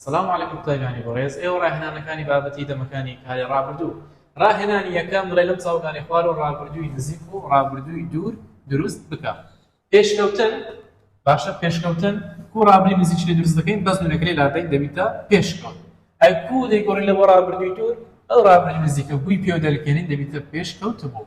سلام علیکم قوتابیانی بەڕێز ئێوە ڕاهێنانەکانی بابەتی دەمەکانی کاری ڕابردوو ڕاهێنانی یەکەم بڵێ لەم چاوگانی خوار و ڕابردووی نزیک و ڕابردووی دوور دروست بکە پێشکەوتن باشە پێشکەوتن کو ڕابری نزیک لێ دروست دەکەین بەس نوێنەکە لێ لادەین دەبیتە پێشکەوت ئەی کو دەیگۆڕی لەوە ڕابردووی دوور ئەو ڕابری نزیکە بووی پێوە دەرکێنین دەبیتە پێشکەوت بوو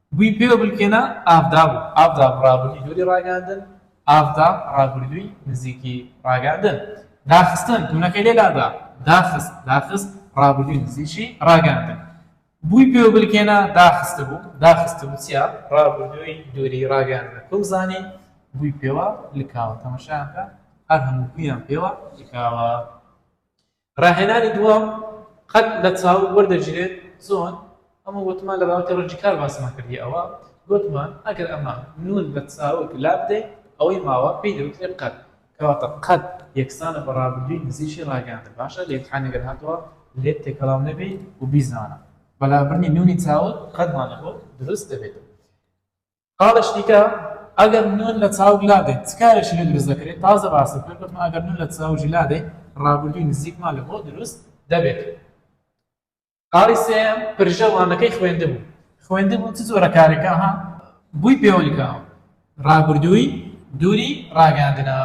گوی پێوە بلکێنە ئافدا بوو ئافدا ڕابردووی دووری ڕاگەیاندن ئافدا ڕابردووی نزیکی ڕاگەیاندن داخستن تونەکەی لێ لادا داخست داخست ڕابردووی نزیکی ڕاگەیاندن بووی پێوە بلکێنە داخستبوو داخستبوو چیا ڕابردووی دووری ڕاگەیاندن بزانین بووی پێوە لکاوە تەمەشایان کە هەر هەموو گویان پێوە لکاوە. ڕاهێنانی دووەم قەد لە چاو وەردەگیرێت چۆن؟ ئەمە وتمان لە بابەتی ڕەنگی کار باسمان کردی ئەوە گوتمان ئەگەر ئەمە نون لە چاوک لابدەین ئەوەی ماوە پێی دەوترێت قەد کەواتە قەد یەکسانە بە ڕابردووی نزیکی ڕاگەیاندن باشە لە ئیمتحان گەر هاتەوە لێت تێکەڵاو نەبی و بیزانە بە لابردنی نونی چاوک قەدمان لەبۆ دروست دەبێتەوە. خاڵێکی دیکە ئەگەر نون لە چاوگ لادەین چ کارێکی لێ دروست دەکرێت تازە باسی کرد گوتم ئەگەر نون لە چاوگی لادەین ڕابردووی نزیکمان لە بۆ دروست دەبێت خاڵی سێم پرژەوانەکەی خوێندبوو خوێندبوو چ جۆرە کارێکە ها بووی پێوەیکە ڕابردووی دووری ڕاگەاندنە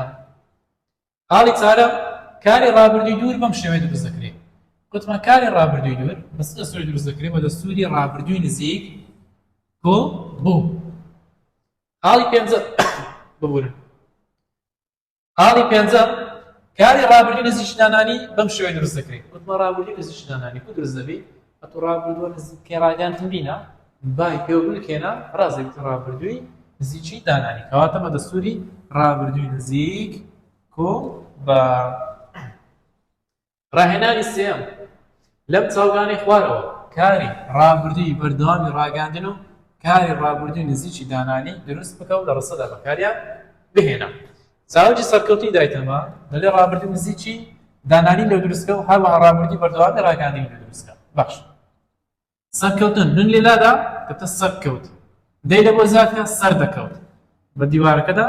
خاڵی چارەم، کاری ڕابردووی دوور بەم شێوەیە دروست دەکرێت. گوتمان کاری ڕابردووی دوور بە سێ سووری دروست دەکرێت بە دەستووری ڕابردووی نزیک کو بوو. خاڵی پێنجەم ببورن. خاڵی پێنجەم کاری ڕابردووی نزیشدانانی بەم شێوەیە دروست دەکرێت. گوتمان ڕابردووی نزیشدانانی کو دروست دەبێت ئەتوو ڕابردووە نزیک کەی ڕاگەیاندن بینە بای پێوە بلکێنە ڕازێ بتە ڕابردووی نزیکی دانانی کەواتە بە دەستوری ڕابردووی نزیک کۆ بە ڕاهێنانی سێم لەم چاوگانی خوارەوە کاری ڕابردووی بەردەوامی ڕاگەاندن و کاری ڕابردووی نزیکی دانانی دروست بکە و لە ڕسەدا بەکاریان بهێنە چاوگی سەرکەوتنی دایتەما دەلێ رابردی نزیکی دانانی نێودروستکە و هەروەها رابردی بەردەوامی راگەیاندنی نێودروستکە بەخشن. سەرکەوتن، نون لە لادا دەبتە سەر کەوت. دەی لە بۆ زیاد کە، سەر دەکەوت. بە دیوارەکەدا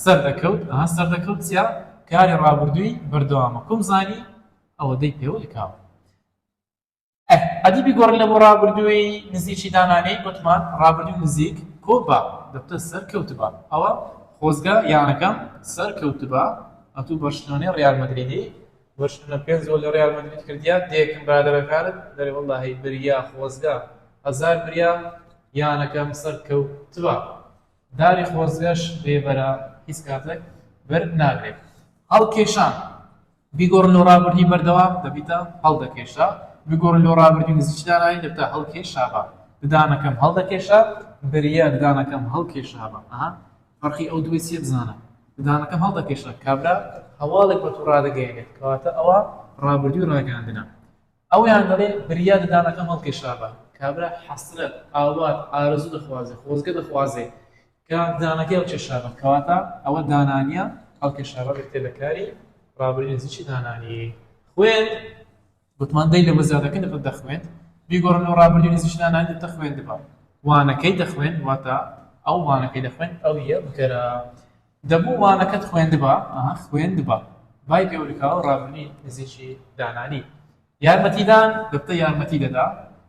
سەر دەکەوت، ئەها سەر دەکەوت چیە؟ کاری رابردووی بەردەوامە. کوم زانی؟ ئەوەدەی پێوەلکاوە. ئەه ئەدی بیگۆڕین لەبۆ ڕابردووی نزیکی دانانێی وتمان ڕابردووی نزیک کۆبە دەبتە سەر کەوتبە ئەوە خۆزگە یانەکەم سەر کەوتبا ئەتوو بەرشلۆنەی ڕیال مەدریدی بەرشلۆنە پێنج گۆڵ لە ڕیال مەدرید کردیا دێکم برادەرەکانت دەرێ وەڵڵا هەی بریا خۆزگە هەزار بریا یانەکەم سەر کەوتبا داری خۆزگەش بێبەرە هیچ کاتێک بەر ناگرێت هەڵکێشان بیگۆڕن لۆ ڕابردووی بەردەوام دەبیتە هەڵدەکێشا بیگۆڕن لۆ ڕابردووی نزیکی دانایی دەبتە هەڵکێشابا ددانەکەم هەڵدەکێشا بریا ددانەکەم هەڵکێشابا ئەها فەرقی ئەو دووەی چیە بزانە ددانەکەم هەڵدەکێشا کابرا هەواڵێک بە تۆ ڕادەگەیەنێت کەواتە ئەوە ڕابردووی ڕاگەیاندنە ئەویان دەڵێ بریا ددانەکەم هەڵکێشابا کابرا حەسرەت ئاوات ئارەزوو دەخوازێ خۆزگە دەخوازێ کار دانەکەی ئەو کێشانە کەواتە ئەوە دانانیە ئەو کێشانە بێتێ لە کاری ڕابری نزیکی دانانی خوێن گوتمان دەی لە بەزیادەکە نفت دەخوێن بیگۆڕن ئەو ڕابری نزیش دانانی تە خوێن دبا وانەکەی دەخوێن واتە ئەو وانەکەی دەخوێن ئەو یە بکەرە دەبوو وانەکەت خوێندبا ئەها خوێندبا بای پێورکاو ڕابنی نزیکی دانانی یارمەتیدان دەتە یارمەتی دەدا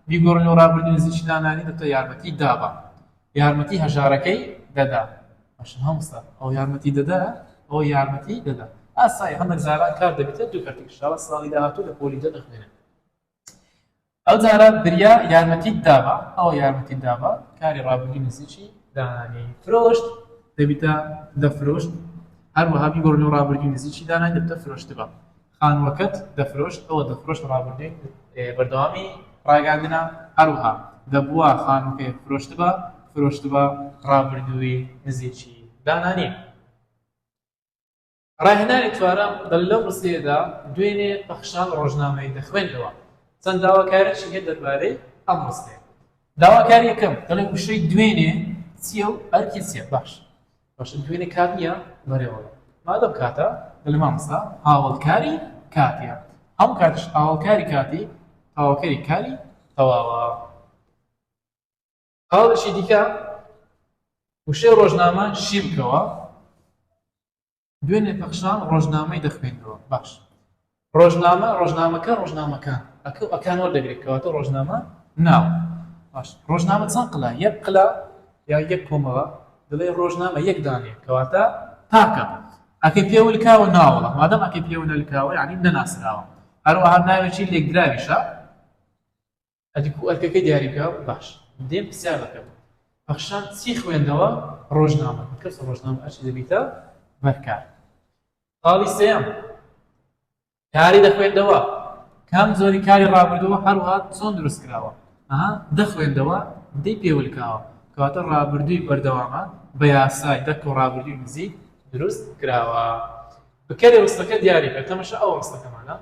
بیگۆڕن و ڕابردن نزیکی دانانی دەتە یارمەتی دابا یارمەتی هەژارەکەی دەدا. باشە مامۆستا ئەو یارمەتی دەدا ئەو یارمەتی دەدا ئاسای هەندێک زاران کار دەبێتە دوو کەرتی انشاءاللە ساڵی داهاتوو لە پۆلی دە دەخوێنێت ئەو جارە بریا یارمەتی دابا ئەو یارمەتی دابا کاری ڕابردووی نزیکی دانانی فرۆشت دەبیتە دە فرۆشت هەروەها بیگۆڕنەوە ڕابردووی نزیکی دانای دەبتە فرۆشتبا خانووەکەت دەفرۆشت ئەوە دەفرۆشت ڕابردووی بەردەوامی ڕاگەیاندنە هەروەها دەبووا خانووەکەی فرۆشتبا فرۆشتبا ڕابردووی نزیکی دانا نییە. ڕاهێنانی چوارەم دەڵێت لەو ڕستەیەدا دوێنێ پەخشان ڕۆژنامەی دەخوێندەوە چەند داواکاریەکی هەیە دەربارەی ئەم ڕستەیە. داواکاریەکەم دەڵێت وشەی دوێنێ چییە و ئەرکی چییە؟ باش. باشە دوێنێ کات نییە بەرێوەبەر مادەم کاتە دەڵێ مامۆستا هاوەڵکاری کاتیە هەموو کاتیش هاوەڵکاری کاتی تەواوکەری کاری تەواوە هاوڵێکی دیکە وشەی ڕۆژنامە شی بکەوە دوێنێ پەخشان ڕۆژنامەی دەخوێنەوە باش ڕۆژنامە ڕۆژنامەکە ڕۆژنامەکان ئەکە ئەکان وەردەگرێت کەواتە ڕۆژنامە ناو باش ڕۆژنامە چەند قلا یەک قلا یا یەک کۆمەڵە دڵێ ڕۆژنامە یەک دانێ کەواتە تاکە ئەکەی پێولکاوە ناوەڵە مادەم ئەکەی پێونەلکاوە ینی نەناسراوە هەروەها ناوێکی لێکدراویشە ئەدی کو ئەرکەکەی دیاری بکا باش دێم پرسیار دەکەم پەخشان چی خوێندەوە ڕۆژنامە کەس ڕۆژنامە ئەرچی دەبیتە بەرکار خاڵی سێم کاری دەخوێندەوە کام زۆری کاری ڕابردەوە هەروها چۆن دروست کراوە ئەها دەخوێندەوە دەی پێولکاوە کەواتە ڕابردووی بەردەوامە بە یاسای دەک و ڕابردووی نزیک دروست کراوە بکەێ وستەکە دیاریکە تەمەشە ئەو ڕستەکەمانە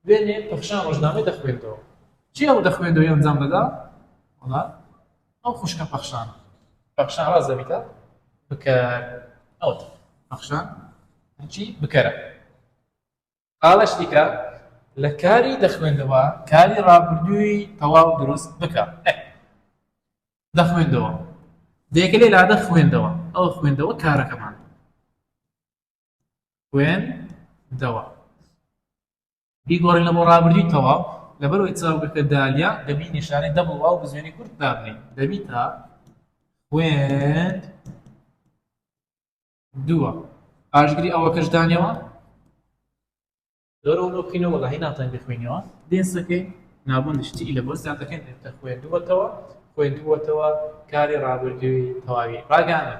دوێنێ پەخشان ڕۆژنامەی دەخوێندەوە کێ ئەو دەخوێندەوە ئەنجام دەدا وڵا ئەو خوشکە پەخشان پەخشان ڕاز دەبیتە بکە ئەو پەخشان هەچی بکەرە قاڵش دیکە لە کاری دەخوێندەوە کاری ڕابردووی تەواو دروست بکە دەخوێندەوە دێکە لێ لادە خوێندەوە ئەو خوێندەوە کارەکەمان خوێندەوە. بیگۆڕینە بۆ ڕابردووی تەواو، لەبەرئەوەی چاوگەکە دالە، دەبی نیشانەی دەبڵ واو بە زوێنی کورت دابنێین. دەبیتە، خوێندووە. پاشگری ئەوەکەش دانەوە. دەورە ورە بکەینەوە وەلاهی ناتوانین بیخوێنیەوە دێنسەکەی نابوندی شتی لە بۆ زیادەکەین دێتە خوێندووەتەوە خوێندووەتەوە کاری ڕابردووی تەواوی ڕاگانە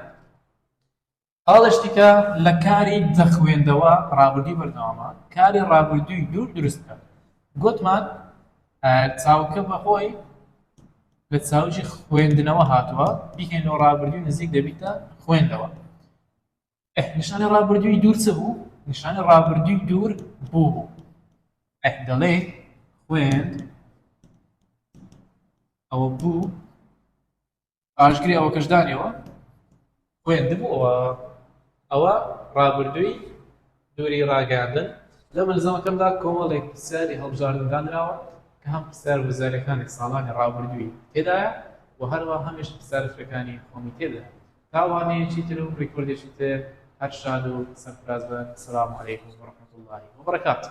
ئاڵشتیکە لە کاری دەخوێندەوە ڕابردووی بەردەوامە کاری ڕابردووی دوور دروستکە گوتمان چاوکە بەخۆی لە چاوجی خوێندنەوە هاتووە بیکەینەوە ڕابردووی نزیک دەبیتە خوێندەوە ئەه نیشانە ڕابردووی دوور چ بوو نیشانە ڕابردووی دوور بوو بوو ئەه دەڵێ خوێن ئەوە بوو ئاشگری ئەوە کەشدانەوە خوێندبووەوە ئەوە ڕابردووی دووری ڕاگەیاندن، لە مەلزەمەکەمدا کۆمەڵێک پرسیاری هەڵبژاردن دانراوە کە هەم پرسیارە وزاریەکانی ساڵانی ڕابردووی تێدایە و هەروە هەمیش پرسیارە فرەکانی خۆمی تێدایە تا وانەیەکی تر و ڕیکۆردێکی تر هەر شاد و سەرفراز بن سلام علیکم ورحمة اللە وبرکاته.